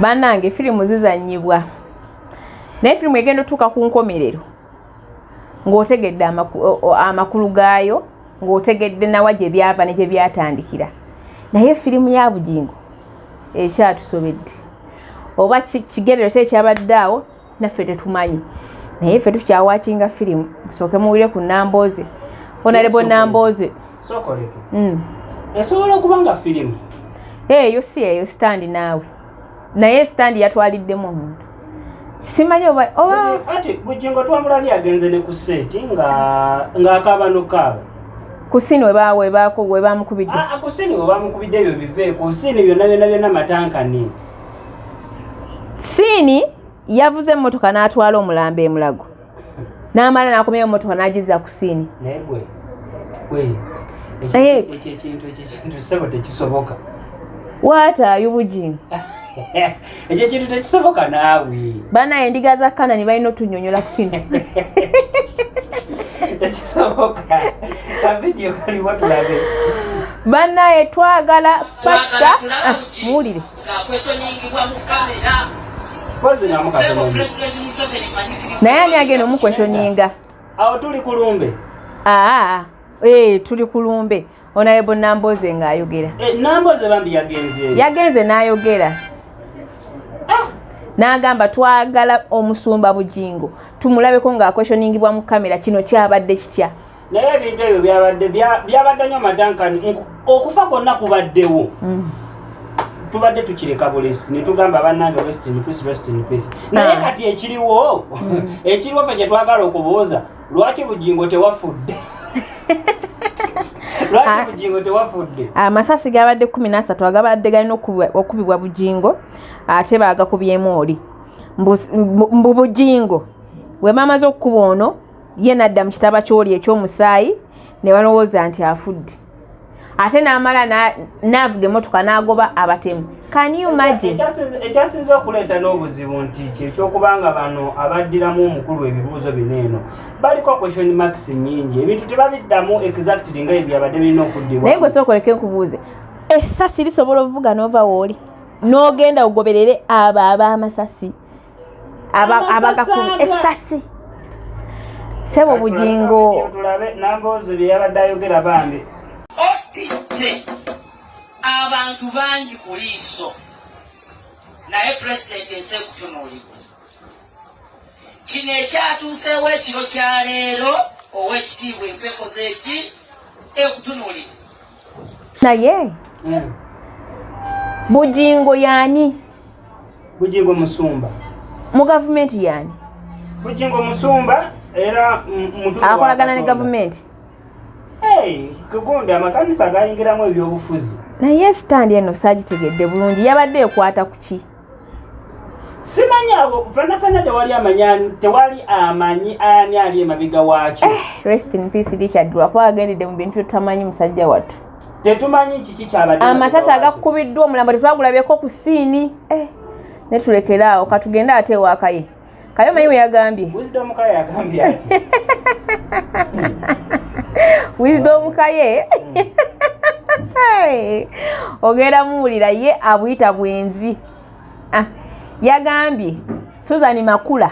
banange firimu zizanyibwa naye firimu egenda otuuka ku nkomerero ng'otegedde amakulu gaayo ng'otegedde nawa gye byava ne gye byatandikira naye firimu ya bugingo ekyatusobedde oba kigerero ki ekyabadde awo naffe tetumanyi naye ffe tukyawakinga firimu musooke muwulire ku nambooze onalebo nambooze hmm. esobola okuba nga firimu eyo eh, si eyo sitandi naawe naye sitandi yatwaliddemu omuntu simanyi oba ati bujingo twamulabi agenze ne ku seeti nga ng'akaaba nokaaba kusini webamukubidde ah, ah, kusini webamukubidde ebyo biveeko kusini byonna byonna byonna matankani siini yavuze emmotoka n'atwala omulambo emulago n'amala n'akomyayo emmotoka n'agizza ku siini waataayo bujingo ekyo ekintu tekisoboka naawe banaye endiga za kanani balina otunyonyola ku kino tekisoboka kavidiyo kaliwo tulabe banaye twagala pasita ah, muwulire naye ani agenda omukweshoninga awo tuli kulumbe aa ee tuli kulumbe eh, onayebo namboze nga ayogera eh, namboze bambi yagenze yagenze nayogera ah! n'agamba twagala omusumba bujingo tumulabeko ng'akweshoningibwa mu kamera kino kyabadde kitya naye ebintu ebyo byabadde byabadde nyo madankani okufa kwonna kubaddewo mm. tubadde tukireka bulesi netugamba banange rest in peace rest in peace ah. naye kati ekiriwo mm. ekiriwo fe kyetwagala okubuuza lwaki bugingo tewafudde Ah. amasasi gabadde kumi nasatu agabadde galina okubibwa bujingo ate bagakubyemu oli mbu bujingo wemamaze okukuba ono ye n'adda mu kitaba ky'oli eky'omusaayi ne balowooza nti afudde ate n'amala n'avuga emmotoka n'agoba abatemu ekyasinza okuleeta n'obuzibu nti kyekyokuba nga bano abaddiramu omukulu ebibuuzo bino eno baliko question max nyingi ebintu tebabiddamu exactly nga ebyabadde birina okuddibwa naye gwe sookoleke nkubuuze essasi lisobola ovuga n'ova wooli n'ogenda ogoberere abo ab'amasasi abagakumi esasi sebo bugingo tulabe namboozi byeyabadde ayogera bambi otidde abantu bangi ku liiso naye pulezidenti ensi ekutunuulidde kino ekyatuuseewo ekiro kya leero ow'ekitiibwa ensi ekoze eki ekutunuulidde naye mm. bujingo yani bujingo musumba mu gavumenti yani bujingo musumba era akolagana ne gavumenti kugunda amakanisa gayingiramu ebyobufuzi naye sitandi eno saagitegedde bulungi yabadde ekwata ku ki simanyi awo fana fana tewali amanya tewali amanyi ani ali emabega waakyo eh, rest in peace richard lwakuba agendedde mu bintu tutamanyi musajja wattu tetumanyi kiki kyabadde amasasi agakukubiddwa omulambo tetwagulabyeko ku siini eh, netulekere awo katugende ate ewakaye Kayoma iwe yagambye. Wisdom kaye yagambye ati. Wisdom kaye. Ogera muwulira ye abuyita bwenzi. Ah, yagambye Susan Makula.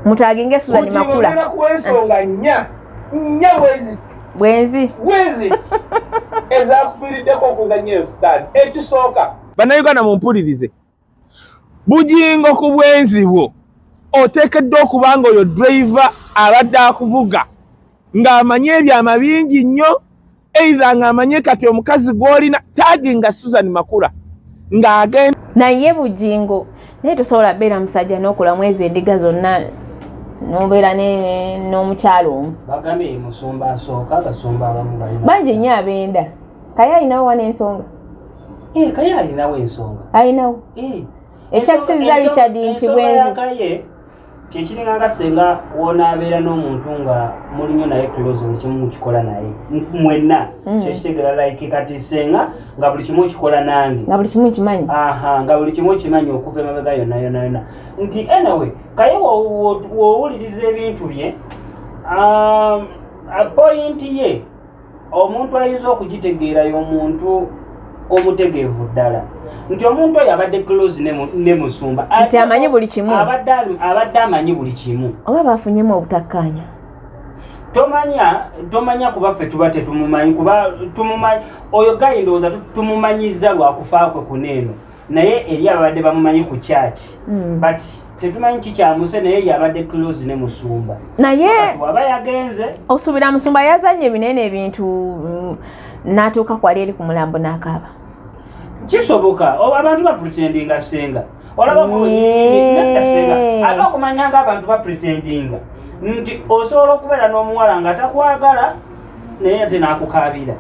Mutaginge Susan Makula. Ujira kwensonga nya. Nya wezi. Bwenzi. Wezi. Eza kufirideko kuzanyo stad. Ekisoka. Bana Uganda mumpulirize. bugingo ku bwenzi bwo oteekeddwa okuba nga oyo driver abadde akuvuga ng'amanyi ebyama bingi nnyo eitha ng'amanye kati omukazi gw'olina taagi nga susan makula ng'agenda naye bugingo naye tosobola beera musajja n'okula mwezi endiga zonna nobeera n'omukyalo omu bangi nnyo abenda kaye alinawo wa n'ensonga Eh, kaye alinawo ensonga alinawo eh. ekyasizza richard nti bwenzi kyekiringanga senga wonaabeera n'omuntu nga muli nyo naye close buli kimu mukikola naye mwenna mm. kyekitegera like kati senga nga buli kimu okikola nange nga buli kimu okimanyi aha nga buli kimu okimanyi okuva emabega yonna yonna yonna nti anyway kaye wowuliriza ebintu bye um, pointi ye omuntu ayinza okugitegeera yomuntu omutegeevu ddala nti omuntu oyo abadde close ne musumba nti amanyi buli kimu abadde amanyi buli kimu oba bafunyemu obutakkaanya tomanya tomanya kuba ffe tuba tetumumanyi kuba tumumanyi oyo gayi ndowooza tumumanyiza lwakufa kwe kuneeno naye eri ababadde bamumanyi ku kyaki hmm. but tetumanyi kikyamuse naye yabadde close ne musumba naye waba yagenze osuubira musumba yazanye ebinene ebintu mm, natuuka kwali eri ku mulambo n'akaaba kisoboka abantu bapretendinga senga olaba senga ate okumanya nga abantu bapretendinga nti osobola okubeera n'omuwala nga takwagala naye ate nakukaabira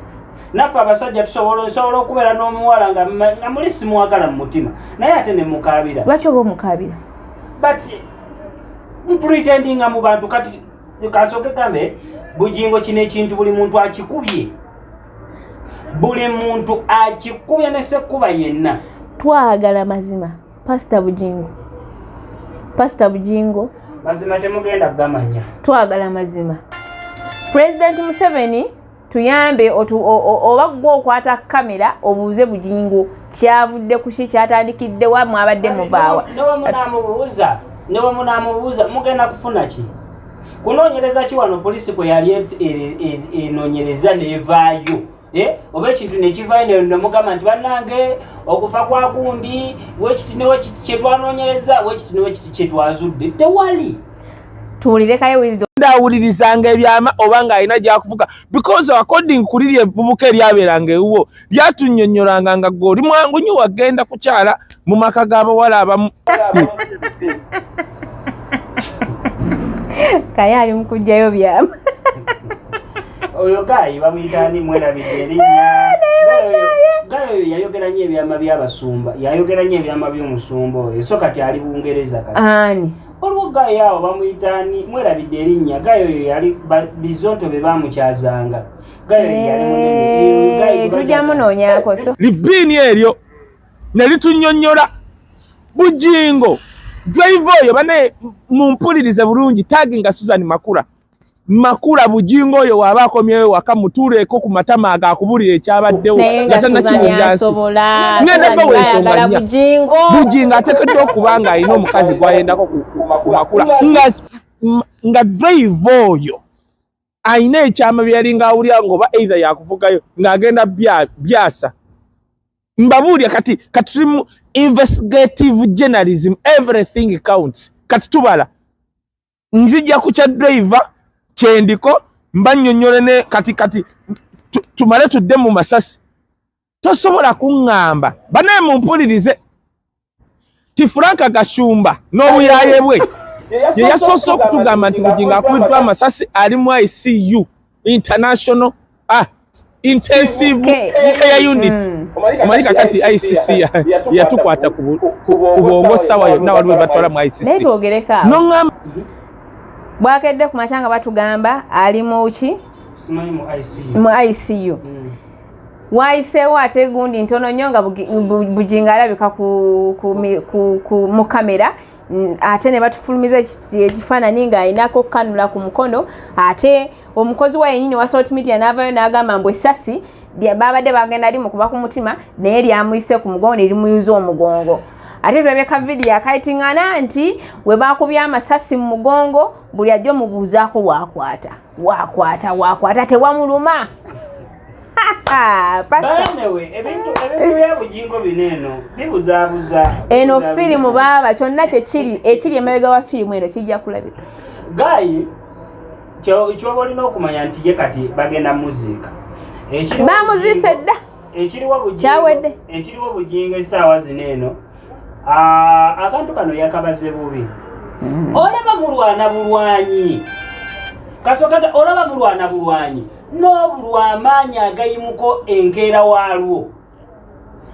naffe abasajja tusobola nsobola okubeera n'omuwala nga muli simwagala mu mutima naye ate ne mukaabira lwaki oba omukaabira but mpretendinga mu bantu kati kasooke kambe bugingo kino ekintu buli muntu akikubye buli muntu akikubye ne sekkuba yenna twagala mazima pasita bugingo pasita bugingo mazima temugenda gamanya twagala mazima pulezidenti museveni tuyambe oba gwe okwata kamera obuuze bujingo kyavudde kuki kyatandikidde wa mwabadde muvaawa newemunamubuuza mugenda kufuna ki kunonyereza ki wano polisi kwe yali e- e- e- enonyereza nevaayo eh? oba ekintu nekivayo nemugamba nti banange okufa kwakundi wekiti newekiti kyetwanonyereza wekiti newekiti kyetwazudde tewali tuwulirekayo wisdom ndawulirizanga ebyama oba nga alina gyakuvuga because according kuli lyebubuka eryabeeranga ewuwo lyatunyonyolanga nga gwe oli mwangu nyo wagenda kukyala mu maka g'abawala abamu kaye ali mukujjayo byama oyo gayi bamuyitani mwerabidde erinnya gayo oyo yayogera nyo ebyama by'abasumba yayogera nyo ebyama by'omusumba oyo so kati ali bungereza kati waliwo gayi awo bamuyita ani mwerabidde erinnya gayi oyo yali bizonto be bamukyazanga eh, tujja munoonyako libiini eryo ne litunyonnyola bujingo drive oyo bane mumpulirize bulungi tagi nga susan makula makula bujingo oyo waba akomyewo waka mutuuleeko ku matama ago akubulira ekyabaddewo nga tanakiwulira nsi ngenda bawa ensonga nya bujingo atekeddwa okuba nga alina omukazi gwayendako ku makula nga nga drive oyo alina ekyama byeyalinga awulira ngaoba either yakuvugayo ng'agenda byasa mbabuulya kati kati tuli mu investigative journalism everything counts kati tubala nzija ku kya driver kyendiko mba nnyonnyole ne kati kati tumale tudde mu masasi tosobola kuŋŋamba banaye mumpulirize ti franka gashumba n'obuyaye bwe ye yasoose okutugamba nti bugingo akubiddwa amasasi ali mu icu international ah, intensive care unit mm. omanyi kakati icc yatukwata kubwongo sawa yonna wali webatwala mu icc nogamba bwakedde ku makya nga batugamba ali muki mu icu mm. wayiseewo ate gundi ntono nnyo nga bujinga alabika mu kamera ate ne batufulumiza ekifaananyi ng'alinako okukanula ku mukono ate omukozi wa yenyini wa salt media n'avaayo n'agamba mbu essasi babadde bagenda limu kuba ku mutima naye lyamuyise ku mugongo ne limuyuza omugongo ate tulabye ka vidiyo akayiting'ana nti we baakubye amasasi mu mugongo buli ajja omubuuzaako waakwata wakwata wakwata tewamuluma eno firimu baaba kyonna kyekiri ekiri emabega wa firimu eno kijja kulabika gayi kyoba olina okumanya nti ye kati bagenda muziika bamuziise dda kyawedde ekiriwo bujingo esaawa zino eno akantu kano yakabaze bubi mm. olaba mulwana bulwanyi kasoka olaba mulwana bulwanyi n'obulwa amaanyi agayimuko enkeera waalwo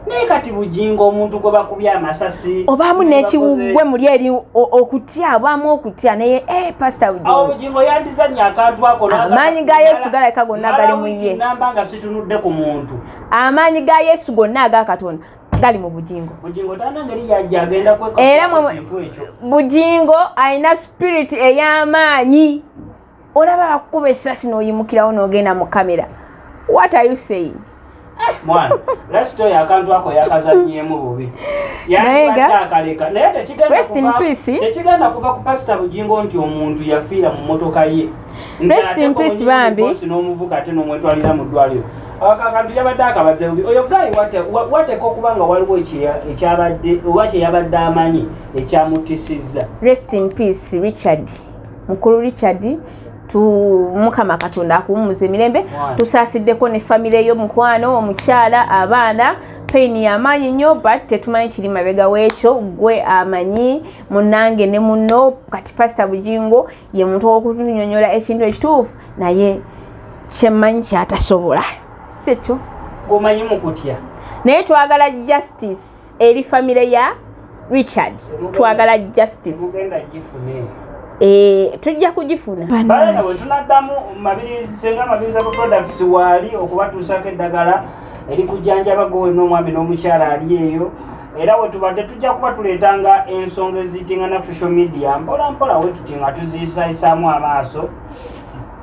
naye kati bujingo omuntu gwe bakubye amasasi obaamu n'ekiwugwe muli eri okutya obaamu okutya naye e eh, pasita bujingo yandizannya akantu akoamaanyi ga yesu galabika gonna gali mu ye tunudde ku muntu amaanyi ga yesu gonna aga katonda gali mu bujingo era bujingo alina spirit ey'amaanyi olaba bakukuba essasi n'oyimukirawo n'ogenda mu kamera what are you saying mwana lasita oyo akantu ako yakazanyemu bubi yaakalekanaye tekigenda kuva ku pasita bugingo nti omuntu yafiira mu motoka ye rest in peace bambi n'omuvuka ate n'omwetwalira mu ddwaliro akantu yabadde akabaze bubi oyo gayi wateeka okuba nga waliwo ekyabadde oba kyeyabadde amanyi ekyamutisizza rest in peace richard mukulu richard mukama katonda akuwummuza emirembe tusaasiddeko ne famire yo mukwano omukyala abaana pain yamaanyi nnyo but tetumanyi kiri mabega w'ekyo gwe amanyi munange ne muno kati pasita bujingo ye muntu okunyonyola ekintu ekituufu naye kyemmanyi kyatasobola sikyo gomanyi mukutya naye twagala justice eri famire ya richard twagala justice Eh, tujja kugifuna balana bwe tunaddamu mabirisenga mabiriza ku products waali okubatuusaako eddagala erikujjanjaba gwe n'omwami n'omukyala ali eyo era wetubadde tujja kuba tuleetanga ensonga eziyitinga na social media mpola mpola wetuti nga tuziyisayisaamu amaaso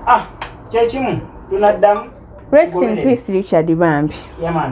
ah kyekimu tunaddamu rest in peace richard bambi yeah,